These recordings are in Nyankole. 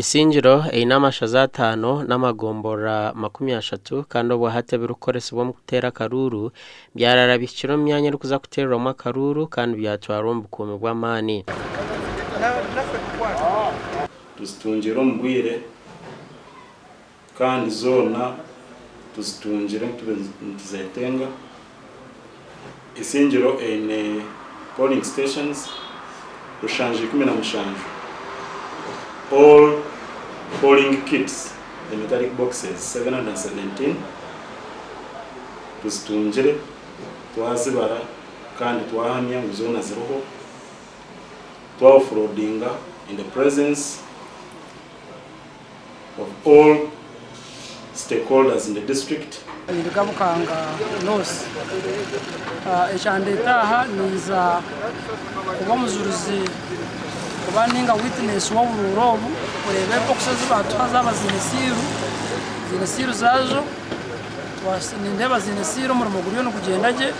Isingiro eine amashaza ataano n'amagomborora makumi ashatu kandi obuhati ebirikukoresibwa omu kuteera akaruuru byaraara bihikire omu myanya erikuza kuteerwamu akaruuru kandi byatwarwa omu bukuumi bw'amaani. Kandi zoona tuzitungire nitube nituzetenga. Isingiro eine polling stations rushanju ikumi na mushanju, all polling kits the metallic boxes 717 tuzitungire twazibara kandi twahamya ngu zoona ziriho twa offloadinga in the presence. of all stakeholders in the district. Ninduga Bukanga North. Ekyandeeta aha ninza kuba omujurizi oba ninga witness w'oburuura obu kureeba ebbox ezi baatuha zaaba ziine siiru, ziine siiru zaazo. Nindeeba ziine siiru omurimo guriyo nigugyenda gye.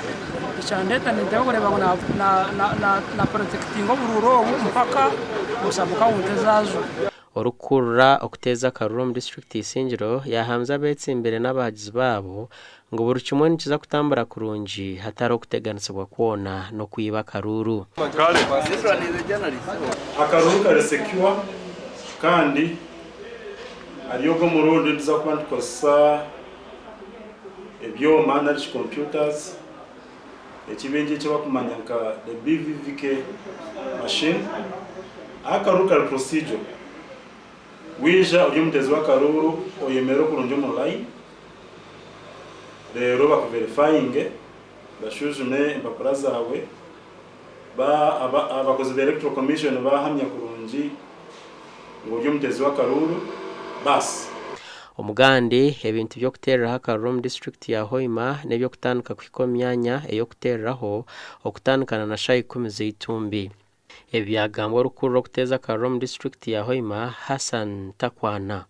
Ekyandeeta nindeeba kureeba ngu na na na protectinga oburuura obu mpaka sub county ezaazo. Orikukurura okuteeza akaruru omu district ya Isingiro yahamize abetsimbire n'abahagizi baabo ngu buri kimwe nikiza kutambura kurungi hatariho kuteganisibwa kwona n'okwiba akaruru. Kale akaruru kari secure kandi ari ogo omurundi nituza kuba nitukozesa ebyoma nari shi computers. eki baingi eki barikumanya nka the BVVK machine, ahu akaruuru kari procedural. Waija ori omutezi w'akaruuru oyemerera kurungi omu layini, reero bakuverifayinge, bashuujume empapura zaawe. Ba abakozi ba Electoral Commission baahamya kurungi ngu ori omuteezi w'akaruuru baasi. Omugande, Ebintu by'okuteereraho akaruuru omu disiturikiti ya Hoima n'eby'okutandika kuhika omu myanya ey'okuteereraho okutandikana na shaaha ikumi z'eitumbi. Ebi byagambwa orikukuru r'okuteeza akaruuru omu disiturikiti ya Hoima, Hassan Takwana.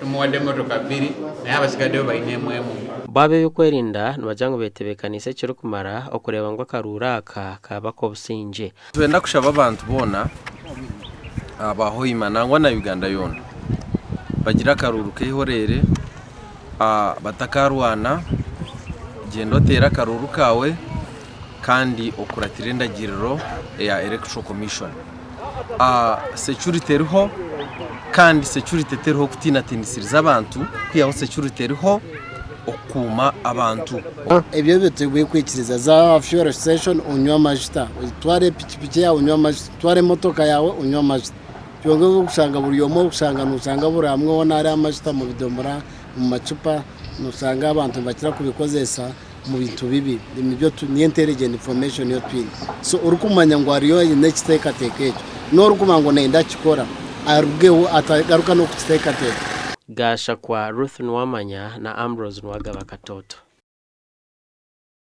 Tumuwadde emotoka bbiri naye abatsigadeyo baine emwe emwe. Bo ab'eby'okwerinda nibagira ngu betebeekaniise ekirikumara okureeba ngu akaruuru aka kaaba ak'obusingye. Nitwenda kushaba abantu boona aba Hoima nangwa na Uganda yoona bagire akaruuru k'eihoreere, batakaarwana, gyenda oteere akaruuru kaawe. kandi okuratira endagiriro eya electoral commission security eriho kandi security teriho kutinatinisiza abantu kwihaho security eriho okukuuma abantu ebyo ebyo tebwe kwikiriza za fuel station unywa amajuta twara epikipiki yawe unywa amajuta twara emotoka yawe unywa amajuta byonka ebyokushanga buri omwe okushanga nushanga buri amwe wona ari amajuta mu bidomora mu macupa nushanga abantu nibakira kubikozesa omu bintu bibi niyo intelligent information ei twine so orikumanya ngu ariyo aine ekiteekateeko ekyo n'orikuba ngu nayenda kukikora arugeho atagaruka n'okukiteekateeka. Gashakwa Ruth Nuwamanya na Ambrose Nuwagaba Katooto.